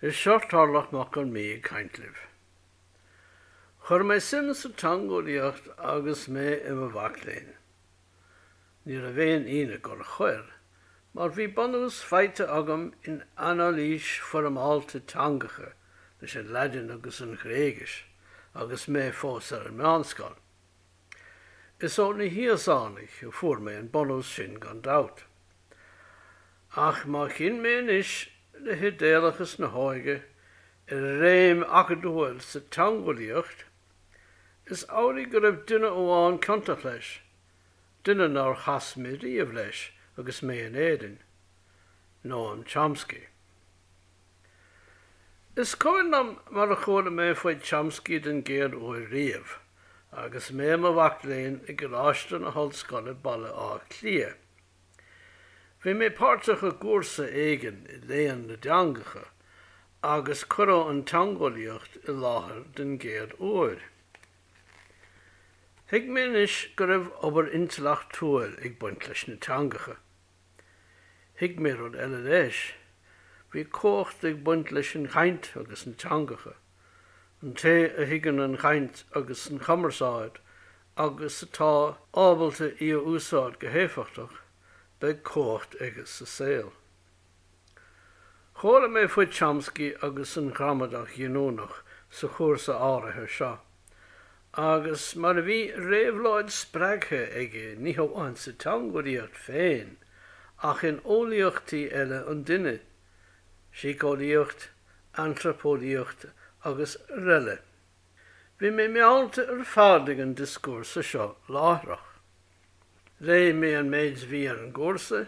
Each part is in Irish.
Is seo Tarlach Mac Con Midhe ag caint libh. Chuir mé suim sa teangeolaíocht agus mé i mo mhac léinn. Ní raibh aon ionadh gur chuir, mar bhí bunús faighte agam in anailís foirmeálta teangacha leis an Laidin agus an Ghréigis agus mé fós ar an meánscoil. Is ó na hÍosánaigh a fuair mé an bunús sin gan dabht. Ach má chinn mé anois le hidéalachas na hóige ar réim acadúil sa teangeolaíocht, is amhlaidh go raibh duine amháin ciontach leis, duine nár chas mé riamh leis agus mé in Éirinn, Noam Chomsky. Is cuimhin liom mar a chuala mé faoi Chomsky den gcéad uair riamh agus mé i mo mhac léinn i gColáiste na hOllscoile Baile Átha Cliath. Bhí mé páirteach i gcúrsa éigin i léann na dteangacha agus cuireadh an teangeolaíocht i láthair den gcéad uair. Thuig mé anois go raibh obair intleachtúil ag baint leis na teangacha. Thuig mé rud eile leis. Bhí comhacht ag baint leis an gcaint agus na teangacha. An té a thuigeann an chaint agus an chumarsáid agus atá ábalta í a úsáid go héifeachtach, beidh comhacht aige sa saol. Chuala mé faoi Chomsky agus an ghramadach ghiniúnach sa chúrsa áirithe seo. Agus mar a bhí réabhlóid spreagtha aige ní hamháin sa teangeolaíocht féin ach in eolaíochtaí eile an duine, síceolaíocht, antraipeolaíocht agus araile. Bhí mé meallta ar fad ag an dioscúrsa seo láithreach. Léigh mé an méid a bhí ar an gcúrsa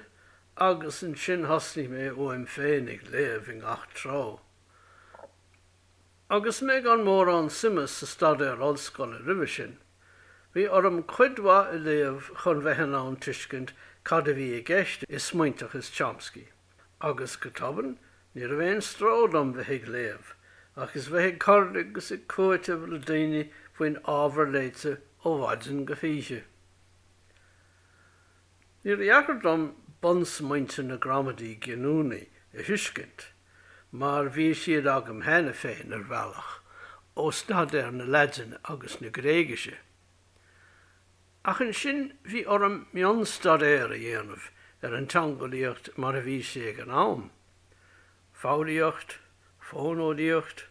agus ansin thosnaigh mé uaim féin ag léamh i ngach treo. Agus mé gan mórán suime sa staidéar ollscoile roimhe sin, bhí orm cuid mhaith a léamh chun bheith in ann tuiscint cad a bhí i gceist i smaointeachas Chomsky. Agus, go tobann, ní raibh aon stró dom bheith ag léamh, agus bheith ag cur agus ag cúiteamh le daoine faoin ábhar léite ó mhaidin go hoíche. Níor dheacair dom bunsmaointe na gramadaí giniúnaí a thuiscint, mar bhí siad agam cheana féin ar bhealach, ó staidéar na Laidine agus na Gréigise. Ach ansin bhí orm mionstaidéar a dhéanamh ar an teangeolaíocht mar a bhí sé ag an am, foghraíocht, fóineolaíocht,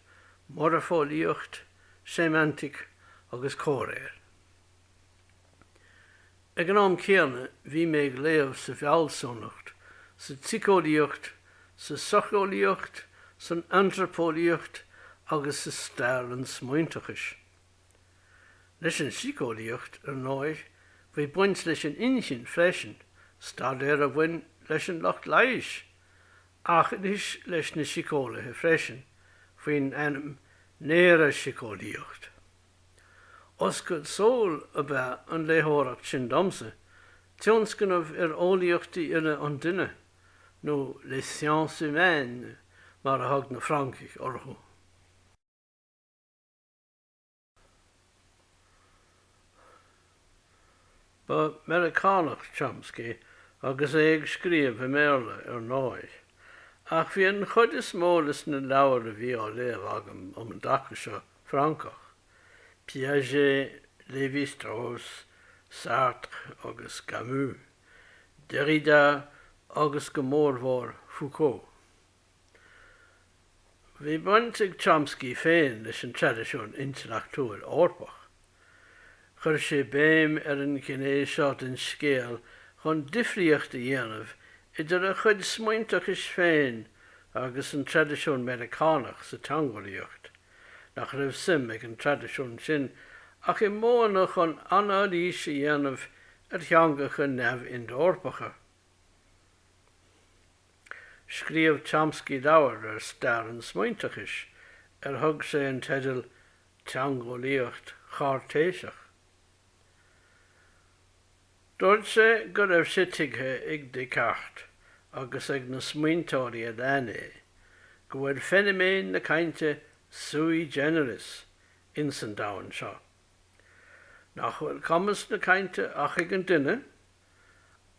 moirfeolaíocht, séimeantaic agus comhréir. Ag an am céanna bhí mé ag léamh sa bhfealsúnacht, sa tsíceolaíocht, sa socheolaíocht, san antraipeolaíocht agus sa stair an smaointeachais. Leis an síceolaíocht, ar ndóigh, bhí baint leis an inchinn freisin, staidéar a bhain leis an lucht leighis, ach anois leis na síceolaithe freisin, faoin ainm néara-síceolaíocht. Oscailt súl ab ea an léitheoireacht sin domsa, tionscnamh ar eolaíochtaí uile an duine, nó les sciences humaines mar a thug na Francaigh orthu. Ba Mheiriceánach Chomsky agus é ag scríobh i mBéarla, ar ndóigh, ach bhí an chuid is mó de sna leabhair a bhí á léamh agam um an dtaca seo, Francach, Piaget, Lévi-Strauss, Sartre agus Camus, Derrida agus go mórmhór Foucault. Bhí baint ag Chomsky féin leis an traidisiún intleachtúil Eorpach. Chuir sé béim ar an ghné seo den scéal chun difríocht a dhéanamh idir a chuid smaointeachais féin agus an traidisiún Meiriceánach sa teangeolaíocht, nach raibh suim ag an traidisiún sin ach i modhanna chun anailís a dhéanamh ar theangacha neamh-Ind-Eorpacha. Scríobh Chomsky leabhar ar stair an smaointeachais ar thug sé an teideal teangeolaíocht Chairtéiseach. Dúirt sé go raibh sé tuigthe ag Descartes agus ag na smaointeoirí a lean é go bhfuil feiniméan na cainte sui generis ins an domhan seo, nach bhfuil cumas na cainte ach ag an duine,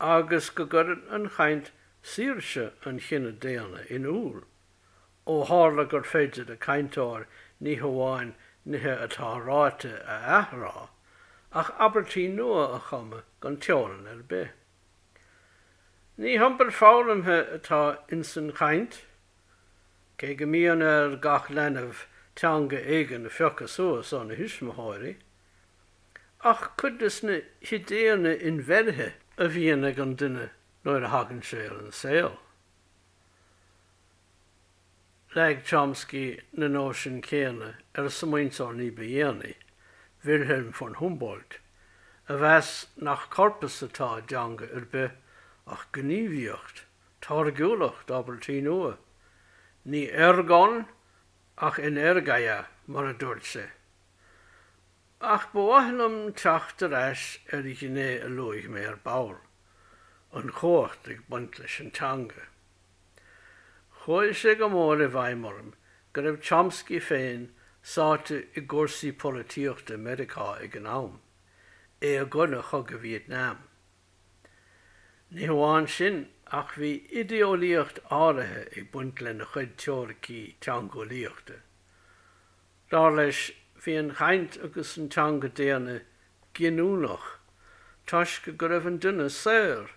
agus go gcuireann an chaint saoirse an chine daonna in iúl. Ó tharla gur féidir le cainteoir ní hamháin nithe atá ráite a athrá, ach abairtí nua a chumadh gan teorann ar bith. Ní hiompar foghlamtha atá insan chaint, cé go mbíonn ar gach leanbh teanga éigin a phiocadh suas óna thuismitheoirí, ach cuid de sna hidéanna inbheirthe a bhíonn ag an duine nuair a thagann sé ar an saol. Leag Chomsky na nóisin chéanna ar an smaointeoir ní ba dhéanaí, Wilhelm von Humboldt, a mheas nach corpus atá i dteanga ar bith ach gníomhaíocht, táirgiúlacht abairtí nua. Ní ergon ach energeia, mar a dúirt sé. Ach ba mhaith liom teacht ar ais ar ghné a luaigh mé ar ball, an chumhacht ag baint leis an teanga. Chuaigh sé go mór i bhfeidhm orm go raibh Chomsky féin sáite i gcúrsaí polaitíochta i Meiriceá ag an am, é i gcoinne chogadh Vítneam. Ní hamháin sin ach bhí idéolaíocht áirithe ag baint lena chuid teoiricí teangeolaíochta. Dar leis, bhí an chaint agus an teanga daonna giniúnach toisc go raibh an duine saor.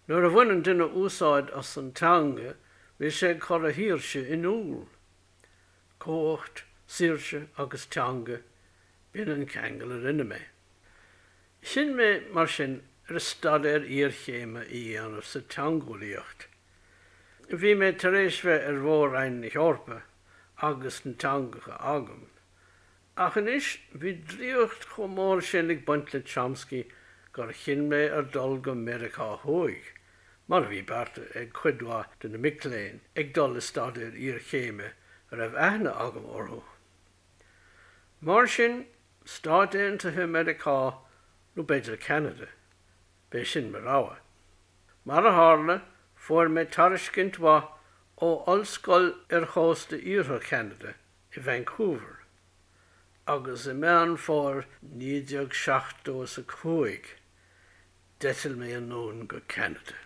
Nuair a bhaineann duine úsáid as an teanga, bíonn sé ag cur a shaoirse in iúl. Cumhacht, saoirse agus teanga, b'in an ceangal a rinne mé. Chinn mé, mar sin, ar staidéar iarchéime a dhéanamh sa teangeolaíocht. Bhí mé tar éis bheith ar mhór-roinn na hEorpa agus na teangacha agam, ach anois bhí draíocht chomh mór sin ag baint le Chomsky gur chinn mé ar dul go Meiriceá Thuaidh, mar a bhí beartaithe ag cuid mhaith de na mic léinn ag dul le staidéar iarchéime a raibh aithne agam orthu. Mar sin, Stáit Aontaithe Mheiriceá nó b'fhéidir Ceanada, B'é sin mo rogha. Mar a tharla, fuair mé tairiscint mhaith ó Ollscoil ar chósta iarthar Cheanada i Vancouver, agus i Meán Fómhair 1975, d'eitil mé anonn go Ceanada.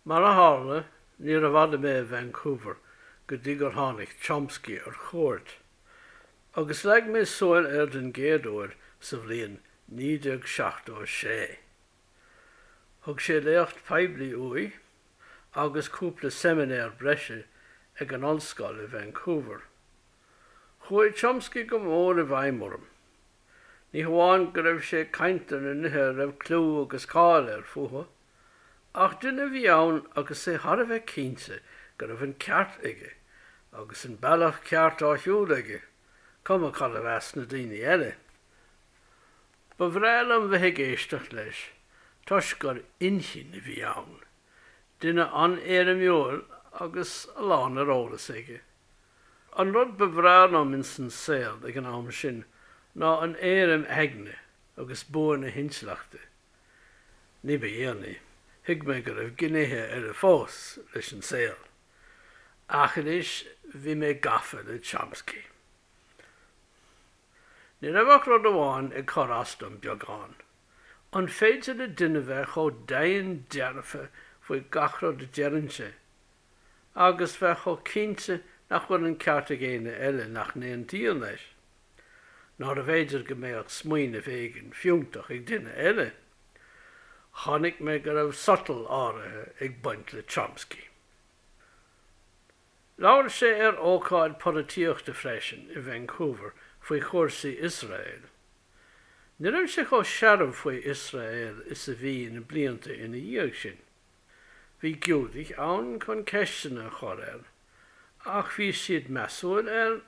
Mar a tharla, níorbh fhada mé i Vancouver go dtí gur tháinig Chomsky ar chuairt, agus leag mé súil air den gcéad uair sa bhliain 1976. Thug sé léacht poiblí uaidh agus cúpla seiminéar breise ag an ollscoil i Vancouver. Chuaigh Chomsky go mór i bhfeidhm orm. Ní hamháin go raibh sé ag caint ar na nithe a raibh clú agus cáil air fúthu, ach duine a bhí ann agus é thar a bheith cinnte go raibh an ceart aige, agus an bealach ceart á shiúl aige, cuma cad a mheas na daoine eile. Ba bhreá liom bheith ag éisteacht leis, toisc gur inchinn a bhí ann. Duine an-éirimiúil agus a lán ar eolas aige. An rud ba bhreá liom insan saol ag an am sin ná an éirim aigne agus bua na hintleachta. Ní ba dhéanaí, thuig mé go raibh gnéithe eile fós leis an saol. Ach anois bhí mé gafa le Chomsky. Ní raibh ach rud amháin ag cur as dom beagán. An féidir le duine bheith chomh deimhin dearfa faoi gach rud a deireann sé? agus bheith chomh cinnte nach bhfuil an ceart ag éinne eile nach n-aontaíonn leis. Nárbh fhéidir go mbeadh smaoineamh éigin fiúntach ag duine eile? Chonaic mé go raibh sotal áirithe ag baint le Chomsky. Labhair sé ar ócáid polaitíochta freisin i Vancouver faoi chúrsaí Iosraeil. Ní raibh sé chomh searbh faoi Iosrael is a bhí na blianta ina dhiaidh sin. Bhí Giúdaigh ann chun ceisteanna a chur air, ach bhí siad measúil air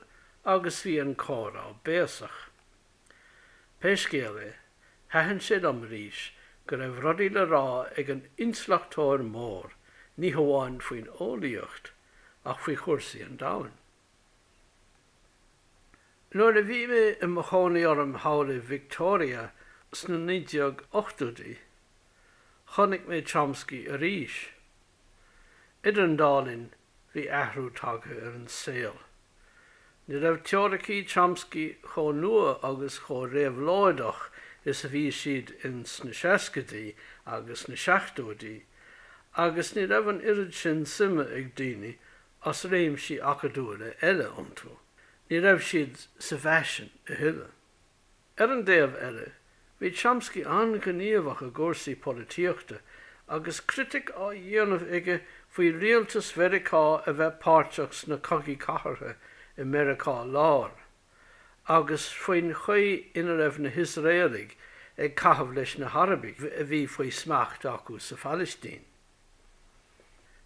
agus bhí an comhrá béasach. Pé scéal é, thaitin sé liom arís go raibh rudaí le rá ag an intleachtóir mór ní hamháin faoin eolaíocht ach faoi chúrsaí an domhain. Nuair a bhí mé i mo chónaí orm thall i Victoria sna 1980idí, chonaic mé Chomsky arís. Idir an dá linn, bhí athrú tagtha ar an saol. Ní raibh teoiricí Chomsky chomh nua agus chomh réabhlóideach is a bhí siad ins na seascaidí agus na seachtóidí, agus ní raibh an oiread sin suime ag daoine as réimsí acadúla eile iontu, ní raibh siad sa bhfaisean a thuilleadh. Ar an dtaobh eile, bhí Chomsky an-ghníomhach i gcúrsaí polaitíochta agus critic á dhéanamh aige faoi rialtas Mheiriceá a bheith páirteach sna cogaí cathartha i Meiriceá Láir agus faoin chaoi ina raibh na hIosraelaigh ag caitheamh leis na hArabaigh a bhí faoi smacht acu sa Phalaistín.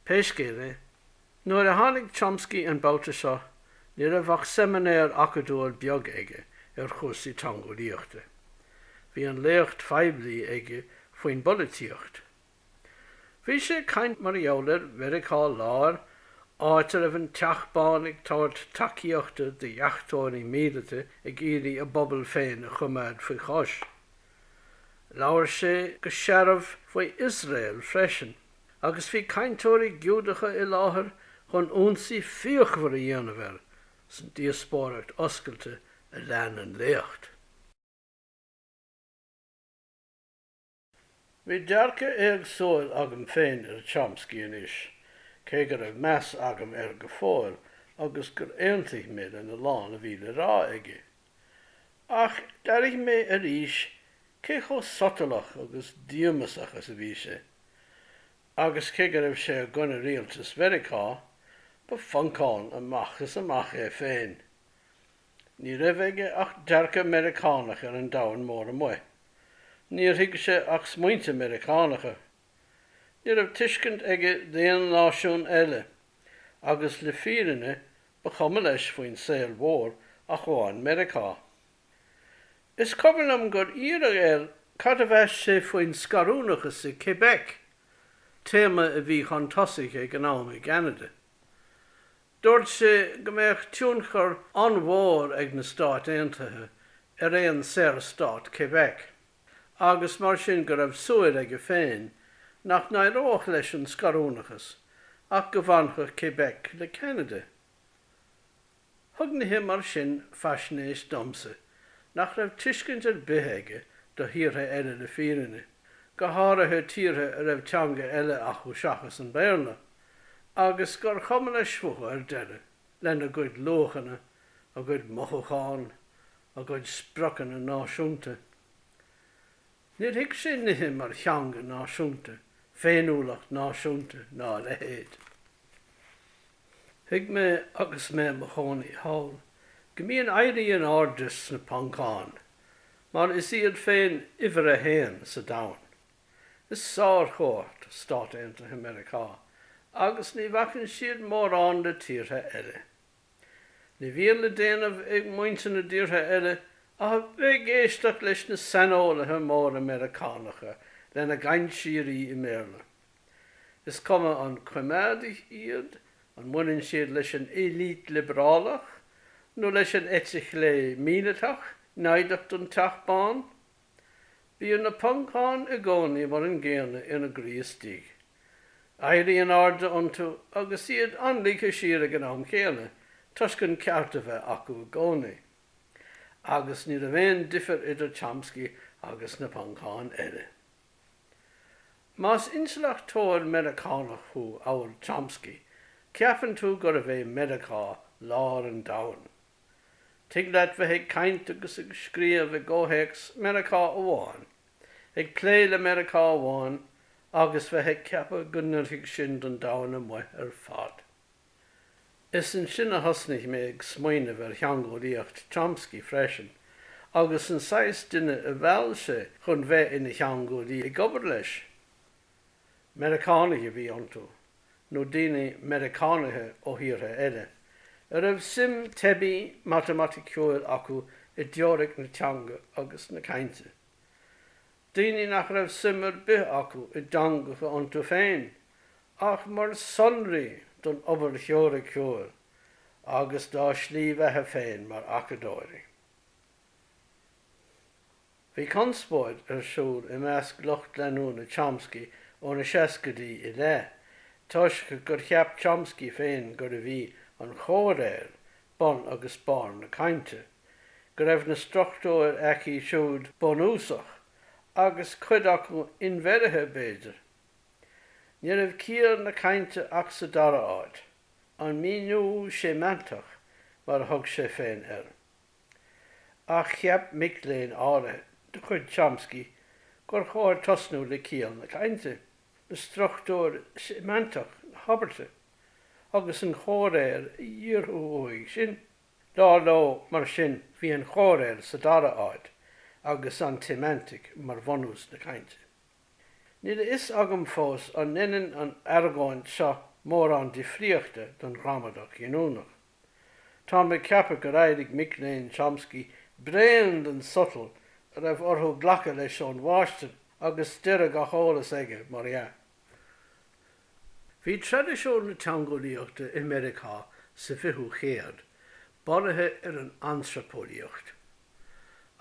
Pé scéal é, nuair a tháinig Chomsky an babhta seo, ní raibh ach seiminéar acadúil beag aige ar chúrsaí teangeolaíochta. Bhí an léacht phoiblí aige faoin bpolaitíocht. Bhí sé ag caint mar gheall ar Mheiriceá Láir, áit a raibh an Teach Bán ag tabhairt tacaíochta do dheachtóirí míleata ag iarraidh a bpobal féin a choimeád faoi chois. Labhair sé go searbh faoi Iosrael freisin agus bhí cainteoirí Giúdacha i láthair chun ionsaí fíochmhar a dhéanamh air san díospóireacht oscailte a lean an léacht. Bhí dearcadh éagsúil agam féin ar Chomsky anois, cé go raibh meas agam air go fóill agus gur aontaigh mé lena lán a bhí le rá aige. Ach d'airigh mé arís cé chomh sotalach agus díomasach is a bhí sé. Agus cé go raibh sé i gcoinne rialtas Mheiriceá, ba Phoncán amach is amach é féin. Ní raibh aige ach dearcadh Meiriceánach ar an domhain mór amuigh. Níor thuig sé ach smaointe Meiriceánacha. Ní raibh tuiscint aige d'aon náisiún eile, agus le fírinne Ba chuma leis faoin saol mhór ach amháin Meiriceá. Is cuimhin liom gur iarradh air cad a mheas sé faoin scarúnachas i Québec, téama a bhí chun tosaigh ag an am i gCeanada. Dúirt sé go mbeadh tionchar an-mhór ag na Stáit Aontaithe ar aon saorstát Québec. agus mar sin go raibh súil aige féin nach n-éireodh leis an scarúnachas ach go bhfanfadh Québec le Ceanada. Thug nithe mar sin faisnéis domsa nach raibh tuiscint ar bith aige do thíortha eile le fírinne, go háirithe tíortha a raibh teanga eile acu seachas an Béarla, agus gur chuma leis fúthu ar deireadh, lena gcuid luachanna, a gcuid mothúchán, a gcuid spriocanna náisiúnta. Níor thuig sé nithe mar theanga náisiúnta, féiniúlacht náisiúnta ná a leithéid. Thuig mé agus mé i mo chónaí thall go mbíonn éirí in airde sna Poncáin mar is iad féin uimhir a haon sa domhan. Is sárchumhacht Stáit Aontaithe Mheiriceá agus ní bhacann siad mórán le tíortha eile. Ní bhíonn le déanamh ag muintir na dtíortha eile ach a bheith ag éisteacht leis na saineolaithe móra Meiriceánacha lena gcaint síoraí i mBéarla. Is cuma an coimeádaigh iad, an mbaineann siad leis an eite liobrálach nó leis an eite chlé míleatach naimhdeach den Teach Bán, Bíonn na Poncáin i gcónaí mar an gcéanna ina gcroí istigh. Éirí in airde iontu agus iad an-ligthe siar ag an am chéanna toisc an ceart a bheith acu i gcónaí. Agus ní raibh aon difear idir Chomsky agus na Poncáin eile. Más intleachtóir Meiriceánach thú amhail Chomsky, ceapann tú gurbh é Meiriceá lár an domhain. Tig leat bheith ag caint agus ag scríobh i gcomhthéacs Mheiriceá amháin, ag plé le Meiriceá amháin agus bheith ag ceapadh go n-oirfidh sin don domhain amuigh ar fad. Is ansin a thosnaigh mé ag smaoineamh ar theangeolaíocht Chomsky freisin agus an saghas duine a mheall sé chun bheith ina theangeolaí ag obair leis. Meiriceánaigh a bhí iontu, nó daoine Meiriceánaithe ó thíortha eile, a raibh suim teibí matamaiticiúil acu i dteoiric na teanga agus na cainte. Daoine nach raibh suim ar bith acu i dteangacha iontu féin, ach mar shonraí don obair theoiriciúil agus dá slí bheatha féin mar acadóirí. Bhí conspóid ar siúl i measc lucht leanúna Chomsky ó na seascaidí i leith, toisc gur cheap Chomsky féin gurbh í an chomhréir bun agus barr na cainte, go raibh na struchtúir aici siúd bunúsach, agus cuid acu inbheirthe, b'fhéidir. Ní raibh ciall na cainte ach sa dara áit, an míniú séimeantach, mar a thug sé féin air. Ach cheap mic léinn áirithe de chuid Chomsky gur chóir tosnú le ciall na cainte, le struchtúr séimeantach na habairte, agus an chomhréir a dhíorthú uaidh sin. Dar leo, mar sin, bhí an chomhréir sa dara áit agus an tséimeantic mar bhunús na cainte. Níl a fhios agam fós an ndeineann an argóint seo mórán difríochta don ghramadach ghiniúnach. Táim ag ceapadh gur éirigh mic léinn Chomsky bréan den sotal a raibh orthu glacadh leis ón mháistir agus deireadh gach eolais aige, mar dhea. Bhí traidisiún na teangeolaíochta i Meiriceá sa 20ú chéad bunaithe ar an antraipeolaíocht.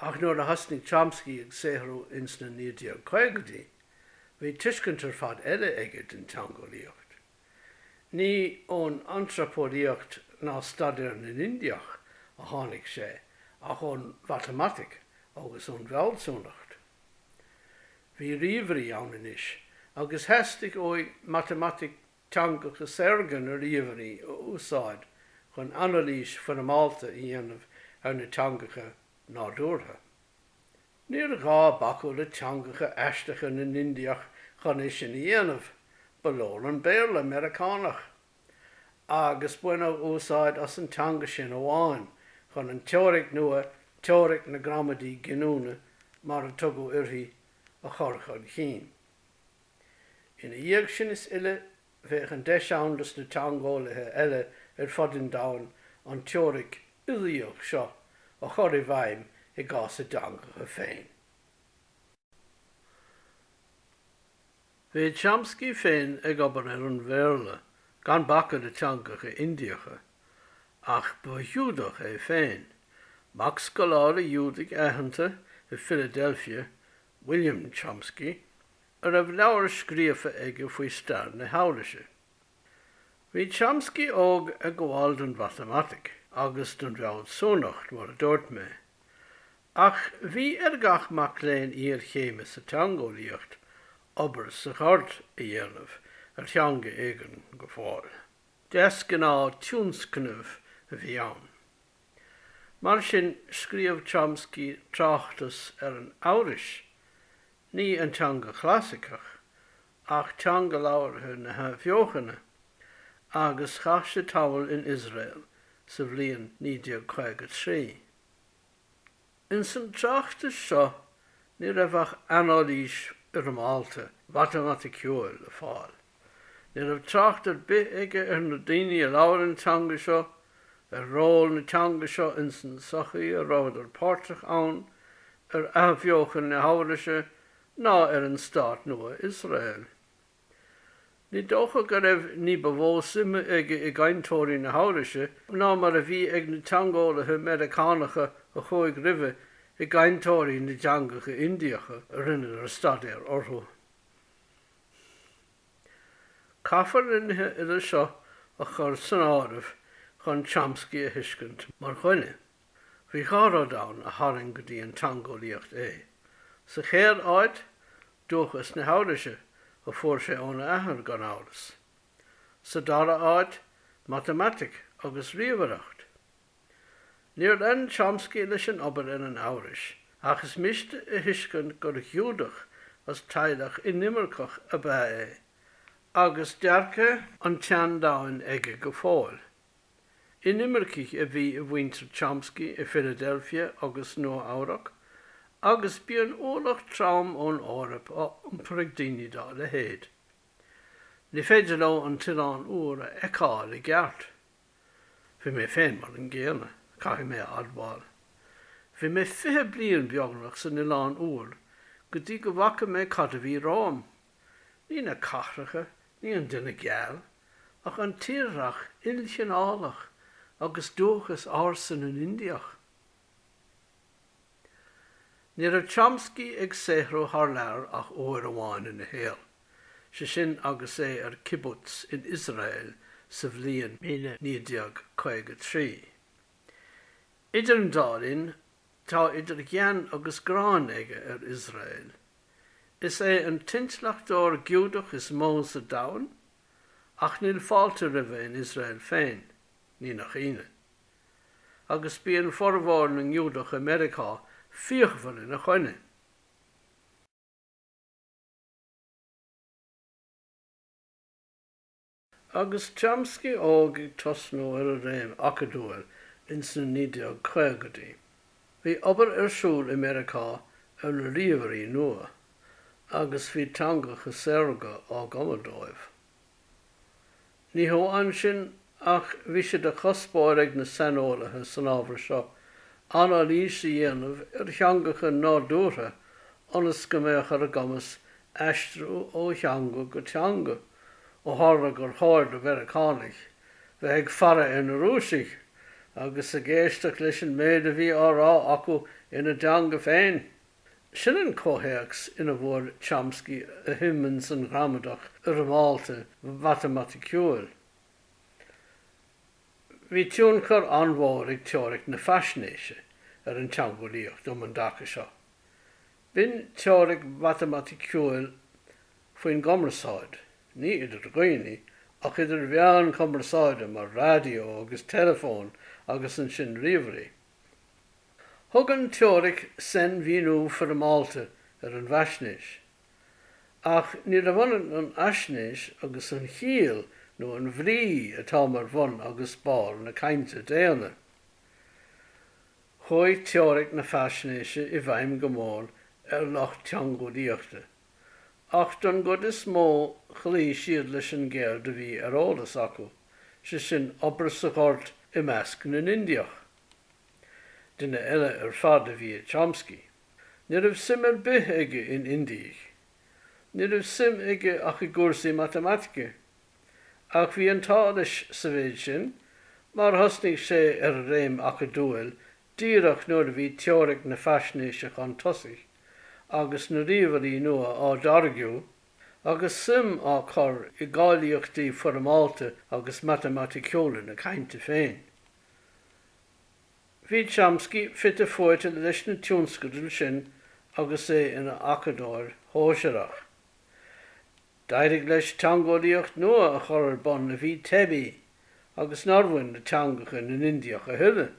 Ach nuair a thosnaigh Chomsky ag saothrú ins na 1950idí, bhí tuiscint ar fad eile aige den teangeolaíocht. Ní ón antraipeolaíocht ná staidéar na nIndiach a tháinig sé ach ón matamaitic agus ón bhfealsúnacht. Bhí ríomhairí ann anois agus theastaigh uaidh matamaitic teangacha saorga na ríomhairí a úsáid chun anailís foirmeálta a dhéanamh ar na teangacha nádúrtha. Níor ghá bacadh le teangacha aisteacha na nIndiach chun é sin a dhéanamh, ba leor an Béarla Meiriceánach. Agus baineadh úsáid as an teanga sin amháin chun an teoiric nua, teoiric na gramadaí giniúna, mar a tugadh uirthi, a chur chun chinn. Ina dhiaidh sin is uile, bheadh an deis ann dos na teangeolaithe eile ar fud an domhain an teoiric uilíoch seo a chur i bhfeidhm i gcás a dteangacha féin. Bhí Chomsky féin ag obair ar an Bhéarla gan bacadh le teangacha Indiacha, ach ba Ghiúdach é féin, mac scoláire Ghiúdaigh aitheanta i Philadelphia, William Chomsky, a raibh leabhar scríofa aige faoi stair na hEabhraise. Bhí Chomsky óg ag gabháil don mhatamaitic agus don bhfealsúnacht, mar a dúirt mé. Ach bhí ar gach mac léinn iarchéime sa teangeolaíocht obair sa ghort a dhéanamh ar theanga éigin go fóill. Deasghnáth tionscnaimh a bhí ann. Mar sin, scríobh Chomsky tráchtas ar an Eabhrais Ní an teanga chlasaiceach, ach teanga labhartha na hAthbheochana, agus chaith sé tamall in Iosrael sa bhliain 1953. Ins an tráchtas seo ní raibh ach anailís fhoirmeálta mhatamaiticiúil le fáil. Ní raibh trácht ar bith aige ar na daoine a labhair an teanga seo, ar ról na teanga seo ins an sochaí a rabhadar páirteach ann, ar athbheochan na hEabhraise ná ar an stát nua Iosrael. Ní dócha go raibh ní ba mhó suime aige i gcainteoirí na hEabhraise ná mar a bhí ag na teangeolaithe Meiriceánacha a chuaigh roimhe i gcainteoirí na dteangacha Indiacha a rinneadar staidéar orthu. Caithfear na nithe uile seo a chur san áireamh chun Chomsky a thuiscint mar dhuine. Bhí dhá rud ann a tharraing go dtí an teangeolaíocht é. Sa chéad áit, dúchas na hEabhraise, a fuair sé óna athair, gan amhras. Sa dara áit, matamaitic agus ríomhaireacht. Níor lean Chomsky leis an obair ar an Eabhrais, ach is miste a thuiscint gur Ghiúdach as teaghlach inimirceach ab ea é, agus dearcadh an tseandomhain aige go fóill. Inimircigh a bhí i muintir Chomsky i Philadelphia agus Nua-Eabhrac, agus bíonn ualach trom ón Eoraip á iompar ag daoine dá leithéid. Ní féidir leo an tOileán Úr a fheiceáil i gceart. Bhí mé féin mar an gcéanna, caithfidh mé a admháil. Bhí mé fiche bliain beagnach san Oileán Úr go dtí go bhfaca mé cad a bhí romham. Ní na cathracha, ní an duine geal, ach an tírdhreach ilchineálach agus dúchas ársa na nIndiach. Ní raibh Chomsky ag saothrú thar lear ach uair amháin ina shaol. Is é sin agus é ar kibbutz in Iosrael sa bhliain 1953. Idir an dá linn, tá idir ghean agus gráin aige ar Iosrael. Is é an t-intleachtóir Giúdach is mó sa domhan, ach níl fáilte roimhe in Iosrael féin, ní nach ionadh. Agus bíonn formhór na nGiúdach i Meiriceá fíochmhar ina choinne! Agus Chomsky óg ag tosnú ar a réim acadúil ins na 1950idí, bhí obair ar siúl i Meiriceá ar na ríomhairí nua, agus bhí teangacha saorga á gcumadh dóibh. Ní hamháin sin ach bhí sé do chuspóir ag na saineolaithe san ábhar seo anailís a dhéanamh ar theangacha nádúrtha ionas go mbeadh ar a gcumas aistriú ó theanga go teanga, ó tharla gur chóir do Mheiriceánaigh bheith ag faire ar na Rúisigh agus ag éisteacht leis an méid a bhí á rá acu ina dteanga féin. Sin an comhthéacs ina bhfuair Chomsky a shuim ins an ghramadach fhoirmeálta mhatamaiticiúil. Bhí tionchar an-mhór ag teoiric na faisnéise ar an teangeolaíocht um an dtaca seo. B'in teoiric mhatamaiticiúil faoin gcumarsáid, ní idir dhaoine, ach idir mheáin chumarsáide mar raidió agus teileafón agus ansin ríomhairí. Thug an teoiric sainmhíniú foirmeálta ar an bhfaisnéis. Ach níorbh ionann an fhaisnéis agus an chiall nó an bhrí atá mar bhun agus barr na cainte daonna. Chuaigh teoiric na faisnéise i bhfeidhm go mór ar lucht teangeolaíochta. Ach don gcuid is mó chloígh siad leis an gceird a bhí ar eolas acu, sé sin, obair sa ghort i measc na nIndiach. Duine eile ar fad a bhí i Chomsky. Ní raibh suim ar bith aige in Indiaigh. Ní raibh suim aige ach i gcúrsaí matamaitice. Ach bhí an t-ádh leis sa mhéid sin mar thosnaigh sé ar a réim acadúil Díreach nuair a bhí teoiric na faisnéise chun tosaigh agus na ríomhairí nua á dtáirgeadh, agus suim á cur i gcáilíochtaí foirmeálta agus matamaiticiúla na cainte féin, bhí Chomsky fite fuaite leis na tionscadail sin agus é ina acadóir shóisearach. D'éirigh leis teangeolaíocht nua a chur ar bun a bhí teibí agus nár bhain le teangacha na nIndiach a thuilleadh.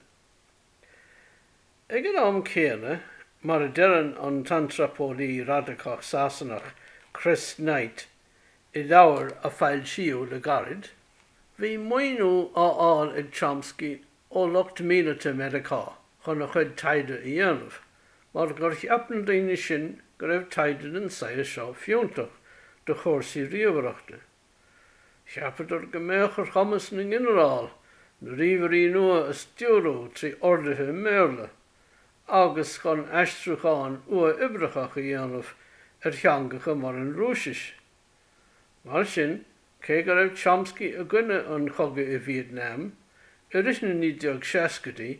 Ag an am céanna, mar a deireann an t-antraipeolaí radacach Sasanach Chris Knight i leabhar a foilsíodh le gairid, bhí maoiniú á fháil ag Chomsky ó lucht míleata Mheiriceá chun a chuid taighde a dhéanamh mar gur cheap na daoine sin go raibh taighde den saghas seo fiúntach do chúrsaí ríomhaireachta. Cheapadar go mbeadh ar chumas na nginearál na ríomhairí nua a stiúrú trí orduithe i mBéarla agus chun aistriúchán uathoibreachach a dhéanamh ar theangacha mar an Rúisis. Mar sin, cé go raibh Chomsky i gcoinne an chogaidh i Vietnam, i rith na 1960idí,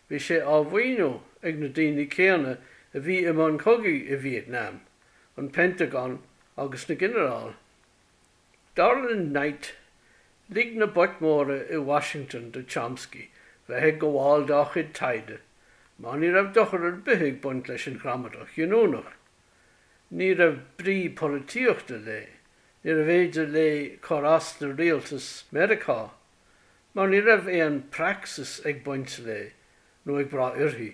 bhí sé á mhaoiniú ag na daoine céanna a bhí i mbun cogaidh i Vietnam, an Pentagon agus na ginearál. Dar le Knight, lig na boic mhóra i Washington do Chomsky bheith ag gabháil dá chuid taighde mar ní raibh dochar ar bith ag baint leis an ghramadach ghiniúnach. Ní raibh brí polaitíochta léi, níorbh fhéidir léi cur as do rialtas Mheiriceá mar ní raibh aon praxis ag baint léi nó ag brath uirthi,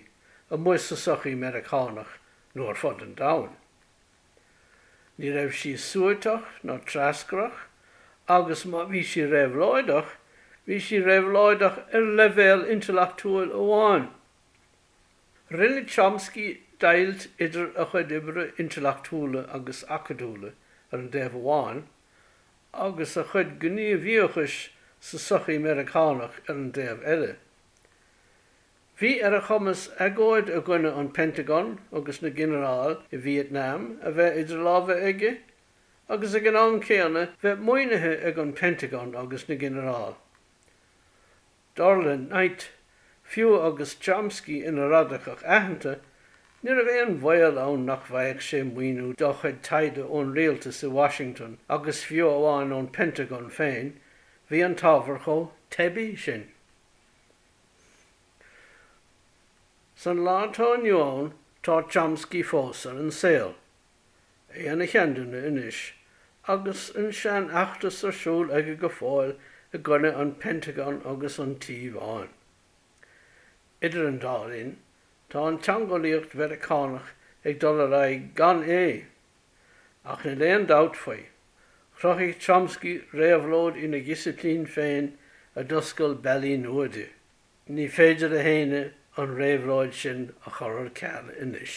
amuigh sa sochaí Meiriceánach nó ar fud an domhain. Ní raibh sí suaiteach ná treascrach agus má bhí sí réabhlóideach, bhí sí réabhlóideach ar leibhéal intleachtúil amháin. Rinne Chomsky deighilt idir a chuid oibre intleachtúla agus acadúla ar an dtaobh amháin agus a chuid gníomhaíochais sa sochaí Meiriceánach ar an dtaobh eile. Bhí ar a chumas agóid i gcoinne an Pentagon agus na ginearál i Vietnam a bheith idir lámha aige, agus ag an am céanna bheith maoinithe ag an Pentagon agus na ginearáil. Dar le Knight, fiú agus Chomsky ina radacach aitheanta, ní raibh aon bhaol ann nach bhfaigheadh sé maoiniú dá chuid taighde ón rialtas i Washington agus fiú amháin ón Pentagon féin, bhí an t-ábhar chomh teibí sin. San lá atá inniu ann tá Chomsky fós ar an saol, é ina sheanduine anois, agus an seanfheachtas ar siúl aige go fóill i gcoinne an Pentagon agus an Tí Bháin. Idir an dá linn tá an teangeolaíocht Mheiriceánach ag dul ar aghaidh gan é. Ach níl aon dabht faoi, chruthaigh Chomsky réabhlóid ina dhisiplín féin a d'oscail bealaí nua di. Ní féidir le héinne an réabhlóid sin a chur ar ceal anois.